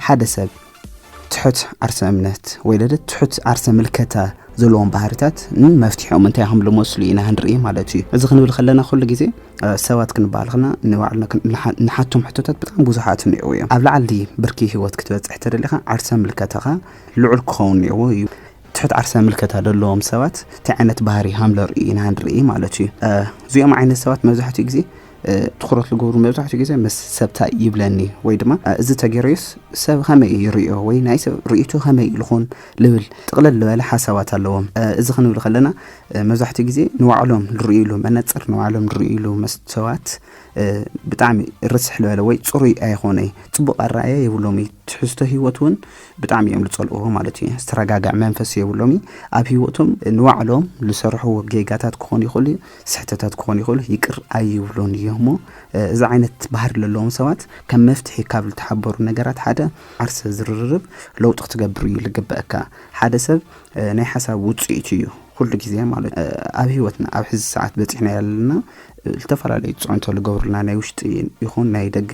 ሓደ ሰብ ትሑት ዓርሰ እምነት ወይ ለለ ትሑት ዓርሰ ምልከታ ዘለዎም ባህርታት ን መፍትሒኦም እንታይ ከም ልመስሉ ኢና ክንርኢ ማለት እዩ። እዚ ክንብል ከለና ኩሉ ግዜ ሰባት ክንበሃል ከለና ንባዕልና ንሓቶም ሕቶታት ብጣዕሚ ብዙሓት እኒኦው እዮም። ኣብ ላዕሊ ብርኪ ህይወት ክትበፅሕ ተደሊኻ ዓርሰ ምልከታኻ ልዑል ክኸውን እኒኦዎ እዩ። ትሑት ዓርሰ ምልከታ ዘለዎም ሰባት እንታይ ዓይነት ባህሪ ከም ለርእዩ ኢና ክንርኢ ማለት እዩ። እዚኦም ዓይነት ሰባት መብዛሕትኡ ግዜ ትኹረት ዝገብሩ መብዛሕትኡ ግዜ ምስ ሰብ ታይ ይብለኒ ወይ ድማ እዚ ተገይሩስ ሰብ ከመይ እዩ ይርእዮ ወይ ናይ ሰብ ርእይቶ ከመይ እዩ ዝኾን ልብል ጥቕልል ዝበለ ሓሳባት ኣለዎም። እዚ ክንብል ከለና መብዛሕትኡ ግዜ ንባዕሎም ዝርእይሉ መነፅር ንባዕሎም ዝርእይሉ መስተዋት ብጣዕሚ ርስሕ ዝበለ ወይ ፅሩይ ኣይኾነ እዩ። ፅቡቕ ኣረኣእያ የብሎም እዩ። ትሕዝቶ ህይወት እውን ብጣዕሚ እዮም ዝፀልእዎ ማለት እዩ። ዝተረጋግዐ መንፈስ የብሎም እዩ። ኣብ ህይወቶም ንባዕሎም ዝሰርሕዎ ጌጋታት ክኾን ይኽእል እዩ። ስሕተታት ክኾኑ ይኽእሉ ይቅር ኣይብሉን እዮም እሞ እዚ ዓይነት ባህሪ ዘለዎም ሰባት ከም መፍትሒ ካብ ዝተሓበሩ ነገራት ሓደ ዓርሰ ዝርርብ ለውጢ ክትገብር እዩ ዝግበአካ ሓደ ሰብ ናይ ሓሳብ ውፅኢት እዩ ኩሉ ግዜ ማለት ኣብ ህይወትና ኣብ ሕዚ ሰዓት በፂሕና ያለና ዝተፈላለዩ ፅዕንቶ ዝገብሩልና ናይ ውሽጢ ይኹን ናይ ደገ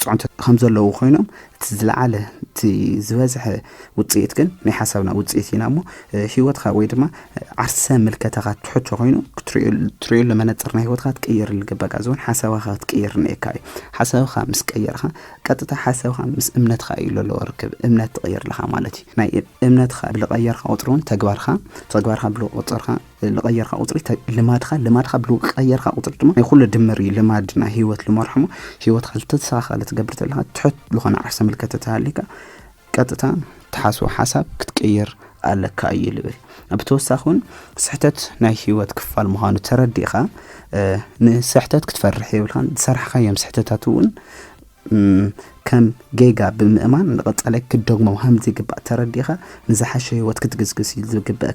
ፅዕንቶ ከምዘለዉ ኮይኖም እቲ ዝለዓለ እቲ ዝበዝሐ ውፅኢት ግን ናይ ሓሳብና ውፅኢት ኢና እሞ ሂወትካ ወይ ድማ ዓርሰ ምልከታኻ ትሕቶ ኮይኑ ክትሪእሉ መነፅር ናይ ሂወትካ ትቅይር ልግበቃ ዝውን ሓሳብካ ክትቅይር ንኤካ እዩ ሓሳብካ ምስ ቀየርካ ቀጥታ ሓሳብካ ምስ እምነትካ እዩ ለለዎ ርክብ እምነት ትቅይር ኣለካ ማለት እዩ ናይ እምነትካ ብልቀየርካ ቁፅሪ እውን ተግባርካ ተግባርካ ብልቁፅርካ ልቐየርካ ቁፅሪ ልማድኻ ልማድኻ ብልቀየርካ ቁፅሪ ድማ ናይ ኩሉ ድምር እዩ ልማድ ናይ ህይወት ልመርሕሞ ህይወትካ ዝተተሳኻለ ትገብር ዘለካ ትሑት ዝኾነ ዓርሰ ምልከት ተተሃሊካ ቀጥታ ትሓስቦ ሓሳብ ክትቅይር ኣለካ እዩ ልብል ብተወሳኺ እውን ስሕተት ናይ ህይወት ክፋል ምዃኑ ተረዲእኻ ንስሕተት ክትፈርሕ የብልካን ዝሰራሕካዮም ስሕተታት እውን ከም ጌጋ ብምእማን ንቐፃላይ ክትደግሞ ከም ዝግባእ ተረዲእኻ ንዝሓሸ ህይወት ክትግስግስ ዝግበእ